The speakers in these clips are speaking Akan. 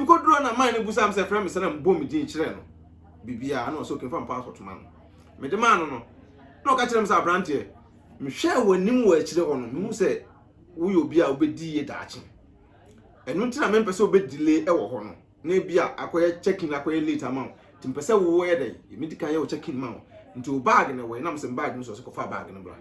Nkoduro na man no busaa me sɛ frɛ me sɛ na mebɔ me din kyerɛ no biribiara ɛna ɔsɛ okenfa me passport ma no mede maa no no na ɔka kyerɛ me sɛ abranteɛ mehwɛɛ w'anim wɔ akyire hɔ no mehu sɛ woyɛ obi a wobɛdi yie daakye ɛno nti na mempɛ sɛ wobɛ delay ɛwɔ hɔ no na ebi a akɔyɛ check in akɔyɛ late ama wo nti mpɛ sɛ woyɛ dɛ medi kan yɛ wo check in ma wo nti wo bag na ɛwɔ yɛ na mesɛ me bag no sɛ ɔsɛ kɔfa bag no bra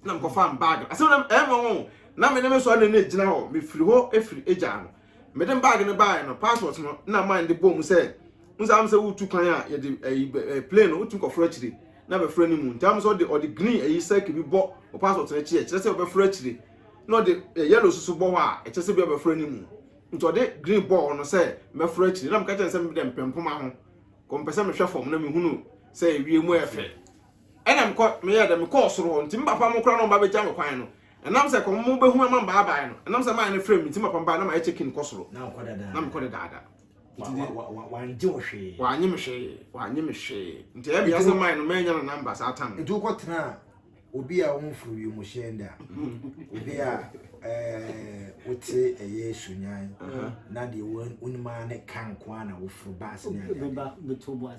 na mekɔfa mbaag no asɛm na ɛmɔ ho na me ne me sɔre ne gyina hɔ mefiri hɔ efiri egyaa no mede mbaag no baeɛ no passport no na man de bɔɔ mu sɛ n sɛ am sɛ wotu kwan a yɛde ɛyi plane no wotu nkɔforo akyire na bɛforo anim nti am sɛ ɔde ɔde green ɛyi sɛke bi bɔ wɔ passport no akyi ɛkyerɛ sɛ ɔbɛforo akyire na ɔde yellow soso bɔ hɔ a ɛkyerɛ sɛ bi ɔbɛforo anim nti ɔde green bɔɔ no sɛ mɛforo akyire na meka kyɛn sɛ mede mpempoma ho kɔmpɛ sɛ mehwɛ fam na mehunu sɛ ewie mu ɛfɛ Ɛna mekɔ meyɛɛ dɛ mekɔɔ soro hɔ, ntsi me papa mo koraa na ɔmba begya me kwan no, ɛnam sɛ kɔm mo behu ama mbaabae no, ɛnam sɛ mayɛ no frɛ me ntsi me papa mbae na mayɛ check in kɔ soro, na mekɔ dedaada, ntsi de, wɔanngye wo hwee, wɔanngye me hwee, wɔanngye me hwee, ntsi ɛyɛ me ya sɛ mae no meenya no number saa tam no. Ntsi wokɔ tsenaa obi a ɔmmforo wimuhyɛn da, obi a wotse ɛyɛ sunyan na deɛ wonim ara ne ka nkoaa na woforo bus ne adeadeɛ.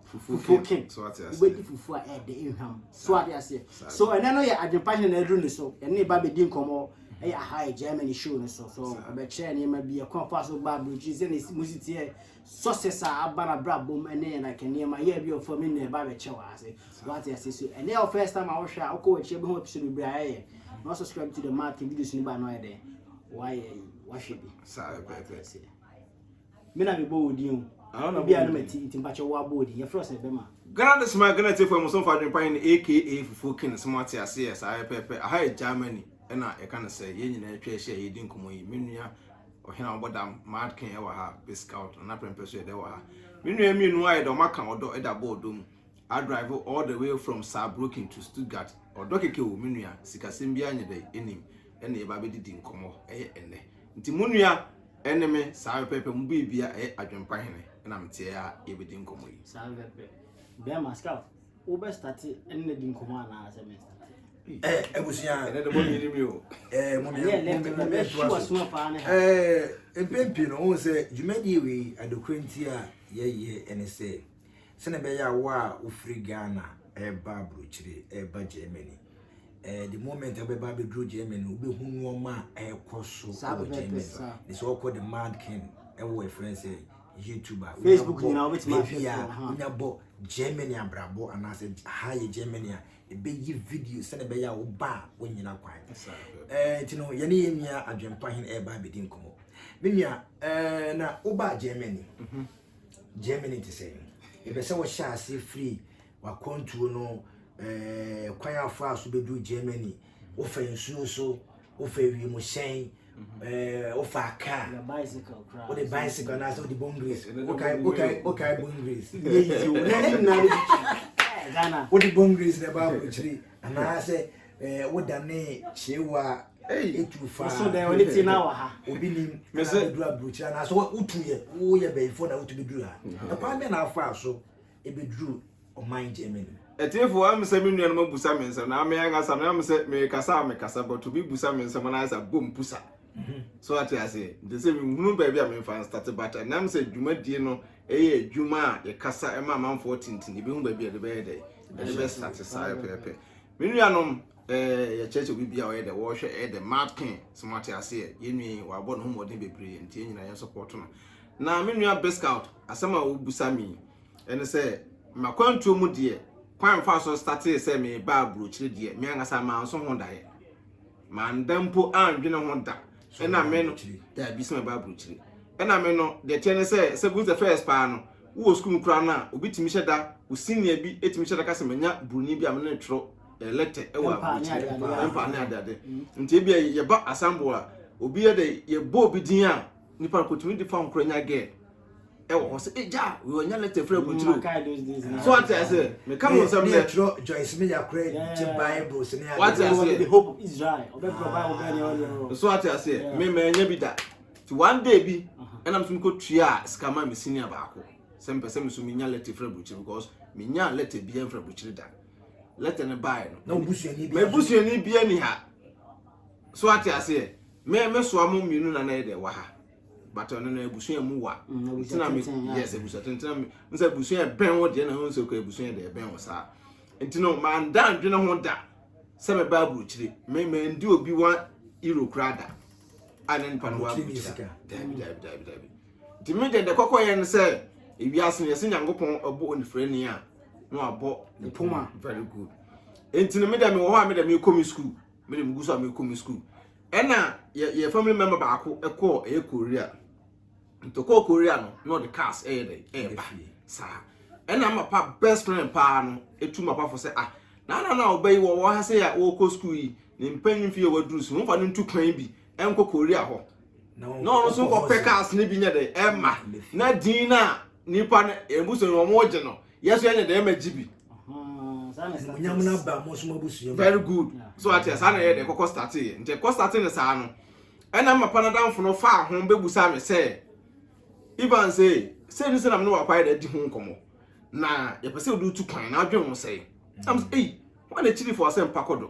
fufuo kem wobɛdi fufuo a ɛde nhwam so ade aseɛ so ɛnɛ no yɛ adwempa hene na aduru ne so ɛne ne ba bɛdi nkɔmmɔ ɛyɛ aha yɛ germany show no so so ɛbɛkyerɛ nneɛma bi ɛkwan fa so ba aburokyiri sɛ ne mu siteɛ success a aba na bra bom ɛne yɛ like nneɛma yɛ bi ɔfam ne nyina ɛba bɛkyɛ wɔ ase wate ase so ɛne yɛ first time a wohwɛ a wokɔ wakyerɛ bɛhu episode bebree a yɛyɛ na subscribe to the market videos no ba no ayɛ dɛn wayɛ wahwɛ bi saa ɛpɛɛpɛ Me na mebɔ wo din o. Ah, na Ebi a na mati nti mpakyɛ wo abɔ din. Yɛfrɛ sɛ bɛma. Ghana de soma Ghana tiefo ɛmo somfo adwene pa he ne AKA Fufuo King sɛ mo ate aseɛ saa pɛpɛɛpɛ aha yɛ Germany ɛna yɛka no sɛ yɛn nyinaa atwa ahyia yɛredi nkɔmmɔ yi me nua ɔhene a wɔbɔ dam Mad King ɛwɔ ha Pit Scout Nana Prɛmpɛ so yɛ dɛ wɔ ha me nua mmienu ayɛ dɛ wɔn aka ɔdɔ de abɔ ɔdɔ mu a drive all the way from Saarbrücken to Stuttgart ɔdɔ kɛkɛ o me nua sikasɛm biara nyɛ dɛ ɛnim ɛna yɛba abɛdidi nkɔmmɔ ɛyɛ ɛnɛ nti mo nua Ɛne me, saa pɛpɛɛpɛ, mo bɛ bia ɛyɛ adwempa hene na me teɛ a yɛ bɛ di nkɔmɔ yi. Saa pɛpɛɛpɛ. Bɛɛma, scout, wo bɛ starte ɛne na di nkɔmɔ anaa sɛ me starte? Eh, abusua. Ɛne de mo nyini mi o. Eh, mo nyini mi o. Mo bɛ shi wa suma paa ne ha. Eh, mpempi no, wo sɛ, dwumadie wei, adokore nti a yɛ yɛ ɛne sɛ, sɛne bɛ yɛ a wo a wo firi Ghana ɛba abrokyire, ɛba Germany, Eh, the moment abɛba abɛduru german no wobɛhu nnoɔma a ɛrekɔ so wɔ german ne sɛ ɔkɔ the mad king ɛwɔ ɛfrɛ sɛ youtube a facebook nyinaa wobɛtumi ahwɛ a wonya bɔ germany abrabɔ anaasɛ ha yɛ germany a ɛbɛyi video sɛne ɛbɛyɛ a woba a wonyina kwan eh, nti no yɛne yɛ nua adwempa hene ɛreba abɛdi nkɔmmɔ me nua eh, na wobaa germany mhm. germany te sɛ ɛbɛ sɛ wɔhyɛ aseɛ firi W'akwantuo no, ɛɛ kwan a ɔfaa so bɛduru Germany, wofa nsuo so, wofa wiemhyɛn, ɛɛ wofa kaa, wode bicycle anaasɛ wode bone grease, wokae bone grease, ɛnyɛ yizi o, na ne nyinaa no bi wode bone grease na ɛba aburokyire anaasɛ ɛɛ wodane kyeewa a etu fa so dɛ ɔne ti na wɔ ha obi nim na bɛduru aburokyire anaasɛ wotu yɛ woyɛ bɛyifo na wotu bɛduru ha ɛkwan bɛ na afa so ebeduruu ɔman Germany mu. Atiefo, wɔahu sɛ me nuanom abusa me nsɛm, na me ankasa meahu sɛ merekasa a mekasa, but obi busa me nsɛm na ayɛ sɛ abɔ mpusa. So ate aseɛ? Nti sɛ menhunu baabi a memfa nstate, but ɛnam sɛ dwumadie no ɛyɛ adwuma a yɛkasa ɛma amanfoɔ te nti, yɛbɛhu baabi a yɛde bɛyɛ dɛ, yɛde bɛstate saa pɛpɛɛpɛ. Me nuanom, eh, yɛkyerɛkyerɛ obi biara ɔyɛ dɛ, wɔhwɛ ɛyɛ dɛ, Martin, so moate aseɛ? Yɛn nua yi, wabɔ ne ho mmɔden bebree, nti yɛn nyinaa yɛnsɔpɔɔto no. Na me nua Biscout, asɛm a wobisa me yi, ɛne sɛ, M'akwantuo mu deɛ, kwan a mefaa so startee sɛ merebaa aburokyire deɛ, me ankasa manso ho daeɛ. Manda mpo andwene ho da. Ɛna me no, daabi, sɛ mɛba aburokyire. Ɛna me no, deɛ ɛteɛ ne sɛ, sɛ goes the first paa no, wowɔ sukuu mu koraa no a, obi tumi hyɛ da, wo senior bi tumi hyɛ da ka sɛ, Manya Buroni bi a me ne no twerɛ lɛtɛ wɔ aburokyire, mpaa ne adeade. Nti ebia yɛba asamboa a, obi yɛ dɛ, yɛbɔ obi din a, Nipa no kotumi de phone kura nya girl ɛwɔ hɔ sɛ egya wei ɔnya letter firi aburukyiri o so ate ase meka ho nsɛm dɛ ɛtwerɛ Joyce mi ya kura gye bible sini ade wate ase the hope of Israel ɔbɛtwerɛ bible bɛɛ deɛ ɔdeɛ no so ate ase me ma ɛnya bi da ti one day bi ɛna mesumi kɔ tua sika ma me senior baako sɛ mpɛ sɛ me so menya letter firi aburukyiri because menya letter bi ɛmfiri aburukyiri da letter no baeɛ no na obusuani bi ɛbusuani bi ɛni ha So wate aseɛ? Me me soa mo mmienu na na yɛ dɛ wɔ ha. But ɔno no abusua mu wa. Mm, Ntina me yes abusua tenten me. Nsa abusua bɛn wo deɛ na ho nso kɔ abusua deɛ bɛn wo saa. Nti no man dan dwene ho da sɛ me ba aburukyire. Me me ndi obi wa iro kura da. A ne nipa no wa aburukyire. Dabi dabi dabi dabi. Nti me deɛ de kɔkɔ yɛ no sɛ ewiase no yɛsɛ Nyankopɔn ɔbɔ onifrani a na wabɔ ne poma. Very good. Nti no me deɛ me wɔ hɔ a me deɛ me kɔ me school. Me de megu so a mekɔ me school. Ɛna yɛ yɛ family member baako ɛkɔɔ ɛyɛ Korea. Nti ɔkɔɔ Korea no na ɔde cars ɛyɛ dɛ ɛɛba saa. Ɛna mapa best friend paa no etu mapa fo sɛ ah na na na ɔbɛ yi wɔ wɔ ha sɛ yɛ ɔkɔ school yi ne mpanyin fi yɛ waduru so nfa no ntu kwan bi ɛnkɔ Korea hɔ. Na ɔno nso nkɔpɛ cars ne bi nyɛ dɛ ɛɛma na din na nipa no ɛbusu no wɔn gye no yɛso yɛnyɛ dɛ ma gyibi nyam no aba mo so mabusua very good so ate saa na yɛ dɛ kɔkɔ starte yɛ nti kɔ starte no saa no ɛna mapa no damfo no faa ho bɛbusa me sɛ ivan sɛ sɛ ne sɛ nam ne wapa yɛ dɛ di ho nkɔmmɔ na yɛpɛ sɛ wode tu kwan na adwene ho sɛe nam sɛ ei wọn akyiri fo asɛm pa kɔdɔ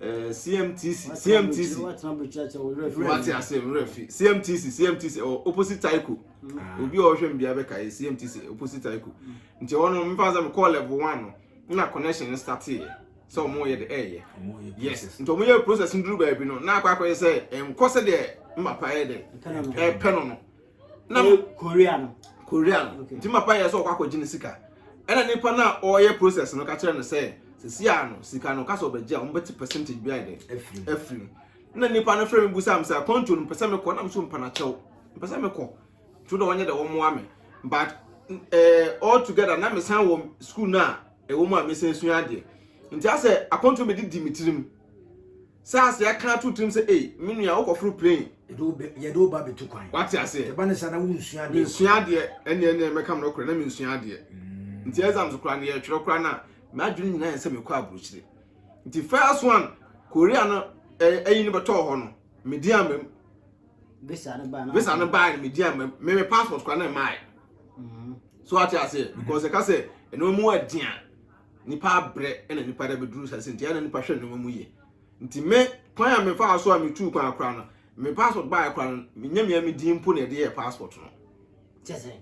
Eh, CMTC, CMTC. Wati ase mmerɛ fi CMTC, CMTC ɛwɔ oh, opposite Taiko. Ah. Obi a ɔhwɛ mbea bɛka yɛ CMTC eh, opposite Taiko. Nti ɛwɔ no mfa sɛ mekɔɔ level one no na connection no start yɛ sɛ ɔmo yɛ de ɛyɛ. Yes, nti ɔmo yɛ process nduru baabi no na akɔ akɔyɛ sɛ ɛnkɔ sɛ deɛ mmapa yɛ dɛ ɛpɛ no no. na eh, korea no korea no nti okay. mapa yɛ sɛ ɔkɔ akɔgye ne sika ɛna nipa no a ɔyɛ process no ka kyerɛ no sɛ sisi a no sika no kasa ɔbɛgye a wɔbɛte percentage bi ayɛ dɛ afiri na nipa no frɛ me bu sam sɛ kɔnto no mpɛsɛ mekɔ na meso mpana kyɛw mpɛsɛ mekɔ to dɛ ɔnyɛ dɛ wɔmmoa me but eh, all together na mesan wɔ school no a ɛwɔ mu a mesan sua adeɛ nti asɛ akɔnto mede di me tirim Saa se yɛaka ato tirim sɛ ei, me nua, wokɔforo plane. Yɛde wo bɛ, yɛde wo ba bɛtu kwan. Wate aseɛ? Ɛba ne saa na wonsua adeɛ koraa. Mensua adeɛ, ɛnneɛ, ɛnneɛ, mɛka mo nokorɛ, na mensua adeɛ. Mm. Nti exams koraa no, yɛretwerɛ koraa no a, m'adwene nyinaa yɛ sɛ mekɔ aburokyire. Nti first one, Korea no, ɛyi no bɛtɔɔ hɔ no, medi ama mu. Visa no baa no. Visa no baa no, medi ama mu. Me me passport koraa na ɛmaae. Mm. So wate aseɛ? Mm-hmm. Because ɛka sɛ, ɛno mu ɛdeɛ a, Nnipa abrɛ na nnipa de abɛduru saa sɛ nti ɛyɛ na nnipa hwɛ nneɛma mu yie. Nti me kwan a mefaa so a metuu kwan koraa no, me passport baeɛ koraa no, menyɛ me ara me din mpo na yɛde yɛɛ passport no. Kyɛ sɛ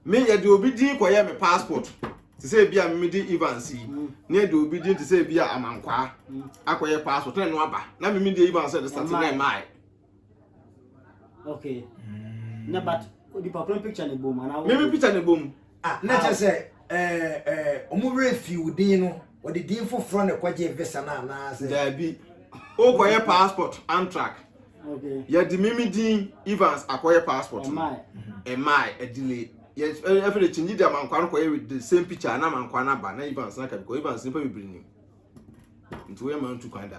me yɛde obi din kɔyɛɛ me passport te sɛ ebi a memede Evans yi mm. na yɛde obi din te sɛ ebi a Amankwaa mm. akɔyɛ passport na ɛno aba na meme deɛ Evans yɛde sate na ɛmae. okay mm. na but onipa koro picture ne bom anaa meme picture ne bom ah na kyɛ sɛ eh, eh, ɔmo werɛ fi wo din no wɔde din foforɔ na ɛkɔgye visa no anaasɛ daabi wokɔyɛ passport antrak yɛde meme din evans akɔyɛ passport ɛmae adile ɛfɛ de kyingye de amankwa no kɔyɛ with the same picture na amankwa no aba na evans na kabikɔ evans nipa bebree nim nti woyɛ ma ntu kwan da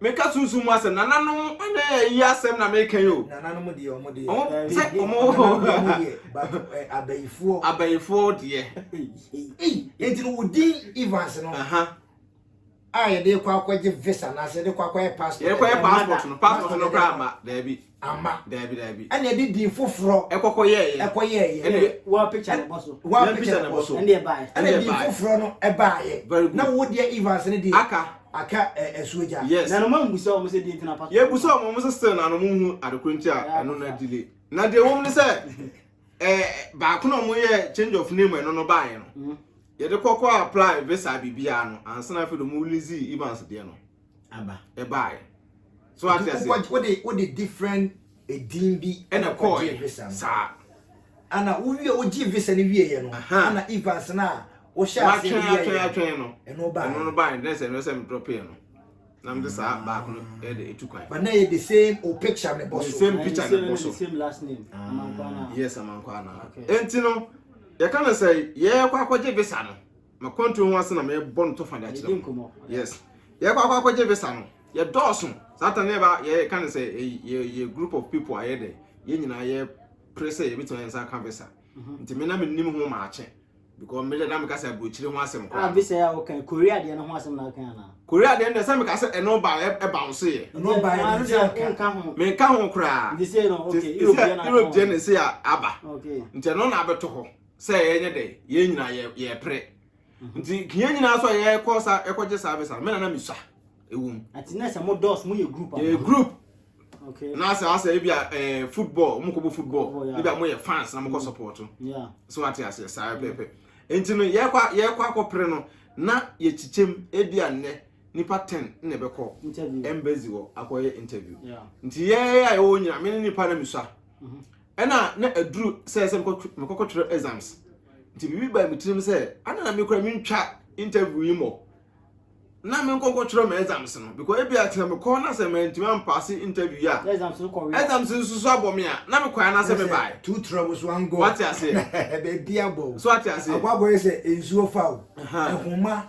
Meka sunsum mu asɛm, nananom ɛnɛ ɛyi asɛm na meka yi o. Nananom deɛ ɔmo deɛ. Ɔmo sɛ ɔmo hɔ. Ɔmo deɛ but ɛ abayifoɔ. Abayifoɔ deɛ. Nti no wo din Evans no. A yɛde kɔ akɔgye visa anaasɛ yɛde kɔ akɔyɛ passport. Yɛde kɔyɛ passport no passport no koraa ma daabi. Amma. Daabi, daabi. Ɛnna ɛde din foforɔ. Ɛkɔkɔyɛeɛ. Ɛkɔyɛeɛ. Ɛnna. Wɔapagya ne bo so. Wɔapagya ne bo so. Ɛnna ɛbaeɛ. Ɛnna din foforɔ no baeɛ. Very good. Na wo deɛ Evans no deɛ. Aka. Aka ɛsuo gya. Yes. Na noma mmusa wɔn sɛ deɛ nti na pastor. Yɛbusa wɔn wɔn sɛ still na wɔn nhu adekorɔ nti a ɛno na delay. Na deɛ wɔn ne sɛ ɛɛ baako na wɔn yɛ change of name ɛno no baeɛ no. Yɛde kɔkɔ apply visa biribiara no ansa na afei de wɔn release Evans deɛ no. aba ɛbaeɛ so ate aseɛ wode wode different edin bi ɛna kɔɔye visa saa ana wowie wogye visa no wieɛ no ana evans no a wohyɛ aseɛ no wieɛ atwɛn atwɛn no ɛno baeɛ ɛno no baeɛ dɛ sɛ ɛno sɛ medrɔpeɛ no na mede saa baako no ɛde ɛtu kwan but na yɛ the same o picture ne bɔ so the same picture ne bɔ so the same last name ah, amankwana yes amankwana okay. enti no yɛka no sɛ yɛkɔ akɔgye visa no makwantuo ho ase na mebɔ no tɔfa de akyerɛ mu yes yɛkɔ akɔ akɔgye visa no yɛdɔɔso saa ta ne ba yɛka ne sɛ yɛ group of people ayɛ dɛ yɛn nyinaa yɛ pere sɛ yɛbɛtumi ayɛ nsa ka visa mhm. nti me na menim ho maakye because me na meka sɛ aburokyire ho asɛm kora ah, visa yɛ a wokan korea deɛ no ho asɛm na wokan anaa korea deɛ no deɛ sɛ meka sɛ ɛno ba ɛba wo so yɛ menka ho koraa europe deɛ no ɛsɛ aba nti ɛno na abɛtɔ hɔ sɛ yɛnyɛ dɛ yɛn nyinaa yɛ yɛpere mhm. nti yɛn nyinaa nso a yɛkɔ sa yɛkɔgye saa visa no me nana mesua ɛwɔ mu ɛti na sɛ mo dɔs mo yɛ group yɛ group na sɛ asɛ ebi a eh, football mo kɔ bɔ football ebi a mo yɛ fans na mo kɔ mhm. support so ate aseɛ saa mhm. pɛpɛ nti no yɛkɔ yɛkɔ akɔpere no na yɛkyikyɛm ebi a nnɛ nipa ten na ɛbɛkɔ embassy wɔ akɔyɛ interview nti yɛyɛ a yɛwɔ nyina me ne nipa na mesua ɛna na aduru sɛ sɛ mekɔkɔtwerɛ exams nti biribi baa me tirim sɛ ana na mekora mentwa interview yi mmɔ na me nkɔ nkɔtwerɛ ma exams no because ebi atena me kɔn na sɛ mantumi ampaase interview yi a exams no kɔwe exams nso so abɔ me a na me kɔɛ na sɛ me bae tu tura wo so angɔ wate aseɛ baabi abɔ so wate aseɛ agwagɔ yɛ sɛ nsuo fa wo ɛhoma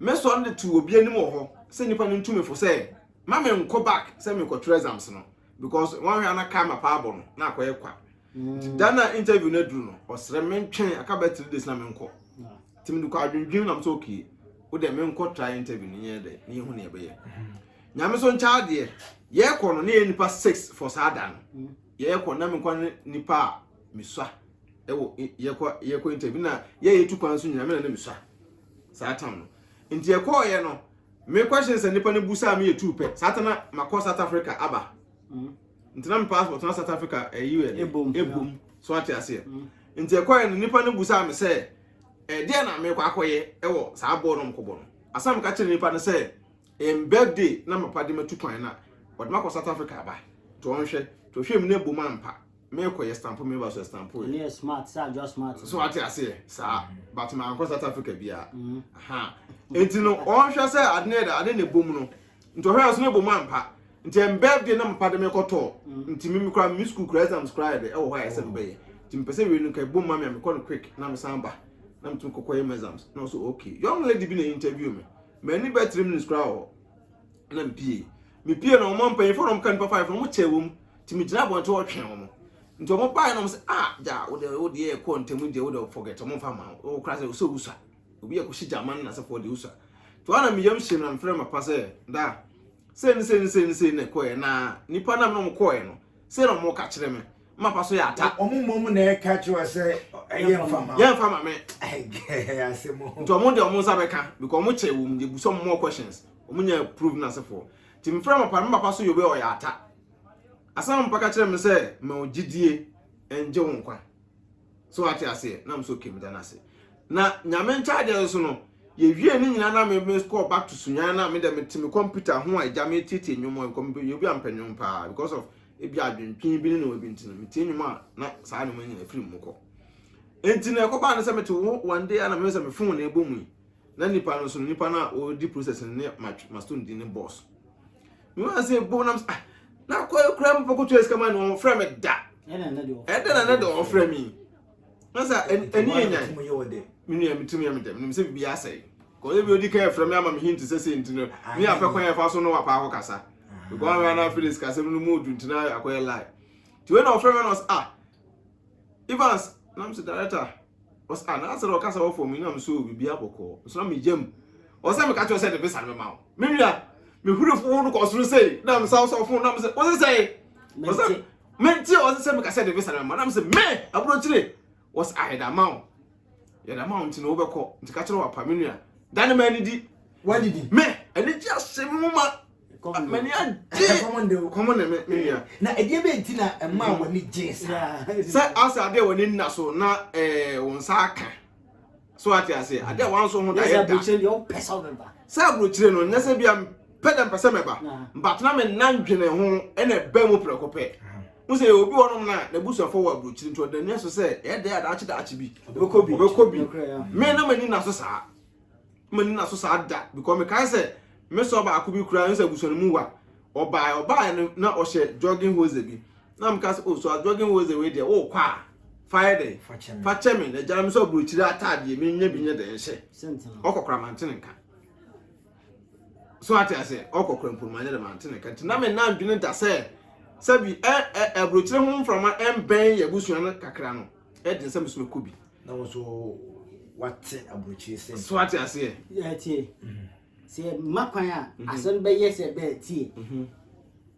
Mɛsɔre de to obi anim wɔ hɔ sɛ nnipa no ntu me fo sɛ ma menkɔ back sɛ merekɔtwerɛ exams no because wɔnhwɛ a na karma paa abɔ no na akɔyɛ kwa. Nti da no a interview no aduru no, ɔsrɛ me ntwɛn aka bɛyɛ three days na menkɔ. Nti mede kɔ adwendwen nam sɛ okay, wo deɛ menkɔ try interview no nyɛ dɛ na yɛhu nea ɛbɛyɛ. Nyame so nkyɛ adeɛ, yɛrekɔ no na yɛyɛ nnipa six for saa da no. Yɛrekɔ na menkɔ ne nnipa a mesua ɛwɔ yɛkɔ yɛkɔ interview na yɛyɛ tu kwan so nyinaa me na na mesua. Saa tam no nti ɛkɔɔyɛ no me question sɛ nipa no busaa me yɛ tuu pɛ saa ta na makɔ South Africa aba mm. nti na me passport na South Africa ɛyi eh, yɛ ebom ebom so ate aseɛ mm. nti ɛkɔɔyɛ no nipa no busaa me sɛ ɛdeɛ eh, na mekɔ akɔyɛ ɛwɔ eh, saa bɔɔl no mkɔbɔ no asan meka kyerɛ nipa no sɛ ɛm birthday na mapa de matu kwan na ɔde makɔ South Africa aba to ɔnhwɛ to hwɛ mu na ebom ampa mekɔ yɛ stampo meba so yɛ stampo yɛ. ɛneyɛ smart sɛ adwoa smart so wate aseɛ saa mm. but mankɔ south africa biaa mm. ha nti no ɔnhwɛ sɛ ade ne ɛda ade ne bom no nti ɔhwɛ nso ne bom ampa nti ɛmbɛ deɛ na mpa de mekɔtɔɔ mm. nti me mekora me school kora exams kora yɛ de ɛwɔ hɔ a ɛsɛ mbɛyɛ nti mpɛ sɛ wei no ka bom ma me a mekɔ no quick na mesan ba na metumi kɔkɔ yɛ exams na ɔso okay young lady bi na interview me m'ani bɛ three minutes kora wɔ na mepie mepie na ɔma mpanyinfoɔ na ɔmka nipa five na ɔmo kyɛ wɔ mu nti megyina abɔnten hɔ twɛn wɔn nti wɔn baeɛ na wɔn sɛ ah gya wo deɛ wo deɛ ɛkɔ ntɛm deɛ wo deɛ forget wɔn fa ma wo kora sɛ ɔsɛ wusua obi yɛ kɔhyɛ gyama no nasefoɔ deɛ wusua nti wɔn na meyam hyɛm na mefrɛ mapa sɛ da sɛ ne sɛ ne sɛ ne sɛ ne kɔɛ na nipa nam na wɔn kɔɛ no sɛ na wɔn ka kyerɛ me mapa so yɛ ata wɔn mmom na ɛka kyerɛ sɛ ɛyɛ mfa ma yɛn fa ma me asɛm hɔ nti wɔn deɛ wɔn nsa bɛka because wɔn kyɛ wɔn deɛ busɔ more questions wɔn nyɛ prove nasefoɔ nti mefrɛ mapa mapa so yɛ obi ɔyɛ ata Asɛmpa ka kyerɛ me sɛ ma wo gyidie ngye wo nkwa. So wate aseɛ? Na me so okay meda no ase. Na nyame nkyagye nso no, yɛwie ne nyinaa na me me kɔɔ back to sunyan na me dɛ me te me computer ho a agya me tietie nnwom a nkɔm yɛ obi a mpɛ nnwom paa because of ebi adwentwen bi ne na obi ntini me tie nnwom a na saa nnwom nyina firi mu kɔ. Enti na ɛkɔbaa no sɛ mete wo one day a na me sɛ me phone na ɛbɔ mu yi. na nipa no nso no nipa no a ɔredi process no ne maston di ne boss me wa sɛ bɔ nam ah na kɔ kura mu pɔkɔ tua sika ma no ɔfrɛ me da ɛdɛ na na de ɔfrɛ me na sɛ ɛni yɛ nyan me nua metum yɛ me dɛm nim sɛ biribi asɛe kɔyɛ bi odi kan frɛ me ama me hint sɛ sɛ nti no ne apɛ kwan yɛfa so no wapa akɔ kasa because na na Felix kasɛm no mu odu ntina akɔyɛ lie tiwe na ɔfrɛ me na ɔsɛ ah Evans nam sɛ director ɔsɛ ah na asɛ ɔkasa wɔ fam nam so biribi abɔkɔ nso na me yam ɔsɛ meka kyerɛ sɛ de visa no ma wo me nua me huru fo no kɔ soro sei na me sa ɔsɛ ɔfo nam sɛ ɔsɛ sɛ ɔsɛ me nti ɔsɛ sɛ meka sɛ de visa no ma nam sɛ me aburo kyire ɔsɛ ayɛ da ma wo yɛ dɛm a nti na wobɛkɔ nti ka kyerɛ wapa me nua da ne ma anidi wadidi me anigye ase me ho ma mani agye kɔmɔ ne me nua na ɛdeɛ bɛ nti na ɛma mm-hmm. w'ani gye saa sɛ asɛ adeɛ w'ani nna so na eh, wo nsa aka so ate ase adeɛ wanso ho da yɛ da sɛ aburokyire no nyɛ sɛ bia pɛ dɛ mpɛ sɛ mɛba but na me nan dwene ho ɛna ɛbɛ mu prɛko pɛ n sɛ obi wɔ nom na n'abusuafo wɔ aburokyiri nti ɔda nua so sɛ ɛyɛ dɛ adaakye daakye bi ɔbɛkɔ bi ɔbɛkɔ bi me na m'ani na so saa m'ani na so saa da because me kan sɛ me sɔ baako bi kura n sɛ abusua no mu wa ɔbaa ɔbaa no na ɔhyɛ jogging hose bi na mo ka sɛ oh so a jogging hose wei deɛ oh kɔ a fa yɛ dɛ fa kyɛ me na gyina me sɛ aburokyiri ataadeɛ me nya bi nyɛ dɛ nhyɛ ɔkɔkora mantene nka so ate ase ɔkɔ kura mponuma nyɛ dɛ ma ante ne ka nti na me nan dwene da sɛ sɛbi ɛ ɛ aburokyerɛ ho mframa ɛmbɛn yɛ abusua no kakra no ɛde nsɛm nso mɛkɔ bi na wɔn nso wate aburokyerɛ sɛ so ate aseɛ yɛ tie sɛ ma kwan a asɛm bɛyɛ sɛ bɛɛ tie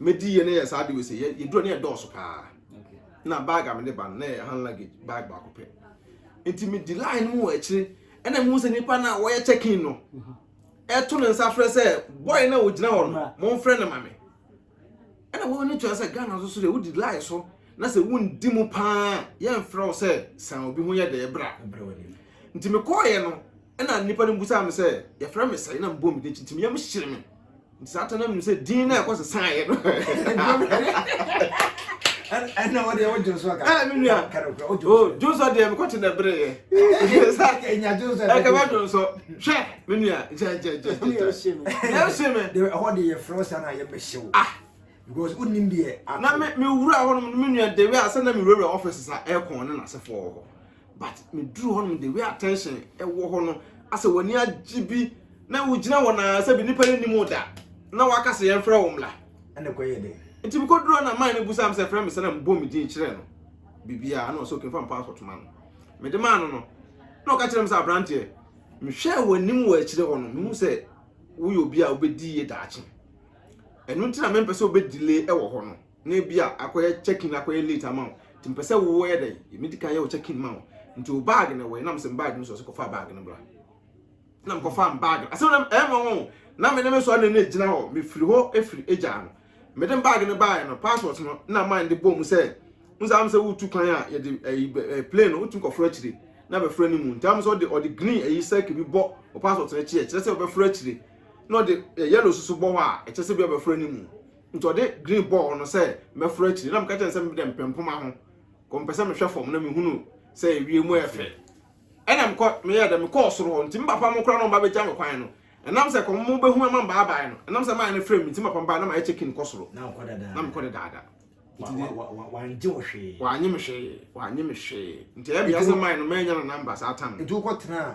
medi yɛ ne yɛ saa de wese yɛ yɛ duro ne yɛ dɔɔso paa na bag a mede ba no na yɛ hand luggage bag baako pɛ nti medi line mu wɔ akyire ɛna mu sɛ nipa na wɔyɛ check in no ɛto ne nsa frɛ sɛ boy na ogyina hɔ no mo nfrɛ ne ma me ɛna wɔn ani tua sɛ ghana so so deɛ wodi line so na sɛ wondi mu paa yɛmfrɛ wo sɛ san obi ho yɛ dɛ bra nti mekɔɔyɛ no ɛna nipa no busaa me sɛ yɛfrɛ me sɛ na mbɔ me de nti meyam hyere me nti saa ta no nim sɛ din no a ɛkɔ sesaeɛ no ɛna wode wo dwonso aka ɛna me nua dwonso deɛ mekɔte na ɛbereeɛ ɛnya dwonso ɛkɛbɛ dwonso hwɛ me nua gyɛgyɛgyɛgyɛyɛhye me ɛhɔ de yɛfrɛ wo saa na yɛbɛhyɛ wo ah. because wonim deɛ na mewura hɔ nom me nua de wɛ a sɛ na mewurawura office sa ɛkɔn ne nasefo wɔ hɔ but me duru hɔ nom the way attention ɛwɔ hɔ no asɛ w'ani agye bi na wogyina hɔ na sɛ bi nipa yɛ nim da na waka sɛ yɛn frɛ wo mmla ɛna kɔ yɛ den nti bi kɔ duru na man ne bu sam sɛ frɛ me sɛ na mbɔ me din kyerɛ no bibia na ɔsɛ okin fa mpa asɔto ma no me de ma no no na ɔka kyerɛ me sɛ abranteɛ mehwɛ w'anim wɔ akyire hɔ no mehu sɛ woyɛ obi a wobɛdi yie daakye ɛno nti na mempɛ sɛ wobɛdile ɛwɔ hɔ no na ebi a akɔyɛ check in akɔyɛ late ama wo nti mpɛ sɛ woyɛ dɛ yɛmi di kan yɛ wo check in ma wo nti o bag na ɛwɔ yɛ nam sɛ bag no so ɔsɛ kɔfa bag no bra nam kɔfa bag asɛm nam ɛma wɔn na me ne me sɔre na ne gyina hɔ mefiri hɔ efiri egya no mede bag no baayɛ no passport no na man de bɔ mu sɛ n sɛ am sɛ wotu kwan a yɛde ɛyi ɛɛ plane no wotu nkɔforo akyire na bɛforo ne mu nti am sɛ ɔde ɔde green ɛyi sɛk bi bɔ ɔpassport no akyi ɛkyerɛ sɛ ɔbɛforo akyire na ɔde yellow soso bɔ hɔ a ɛkyerɛ sɛ bi ɔbɛforo ne mu Nti ɔde green bɔɔ no sɛ mɛforo akyiri na meka kyerɛ no sɛ mede mpɛ mpoma ho kɔ mepɛ sɛ mehwɛ fam na mehunu sɛ ewiem yɛ fɛ ɛna mekɔ meyɛ dɛ mekɔɔ soro hɔ nti me papa mo koraa na ɔmba bɛgya me kwan no ɛnam sɛ kɔm mo bɛhu ama mbaabae no ɛnam sɛ maayɛ no frɛ me nti me papa mbae na mayɛ check in kɔ soro na mekɔ dedaada nti de wangye wo hwee wanye me hwee wanye me hwee nti ɛyɛ me yɛ sɛ maayɛ no maanya no number saa tam nti wokɔ tenaa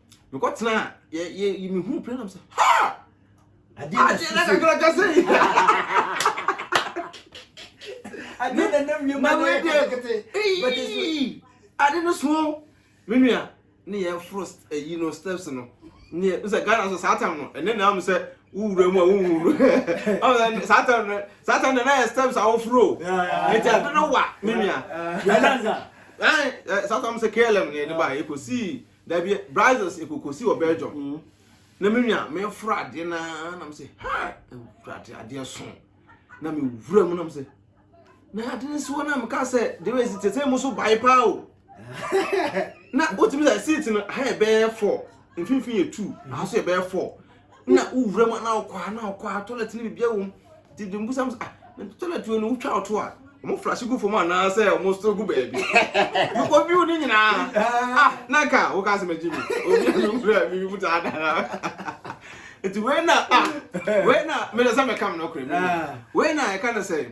mekɔ tena yɛ yɛ me hu pere nam sɛ ha adeɛ na adeɛ na kakra kasa yi adeɛ na nam yɛ ma na yɛ kete eyi ade no so me nua ne yɛ foro eyi no steps no ne yɛ sɛ ghana so saa tam no ɛne na am sɛ wowura mu a wowuru saa tam no saa tam no na yɛ steps a woforo ɛti ade no wa me nua ɛnansa saa tam sɛ klm ne yɛ de ba yɛ kɔ sii Dabi brazos ekokosi wɔ Belgium na me nua me foro adeɛ na na me se ha ewurade adeɛ so na me wura mu na me se na ade ne so na me ka sɛ de wei si tete mu so bae paa o na wotumi sɛ seat no ha yɛ bɛyɛ four mfimfini yɛ two aha so yɛ bɛyɛ four na wowura mu na wokɔ ha na wokɔ ha toilet no biribiara wɔ mu nti de mbusam sɛ ah na toilet wei no wotwa ɔto a wɔn flash gu fam anaasɛ wɔn so gu baabi wokɔ view ne nyinaa ah na ka woka asɛm agyi mi obi a mewura mi mu saa dara nti wei na ah wei na mede sɛ meka me nɔkorɛ mu wei na ɛka no sɛ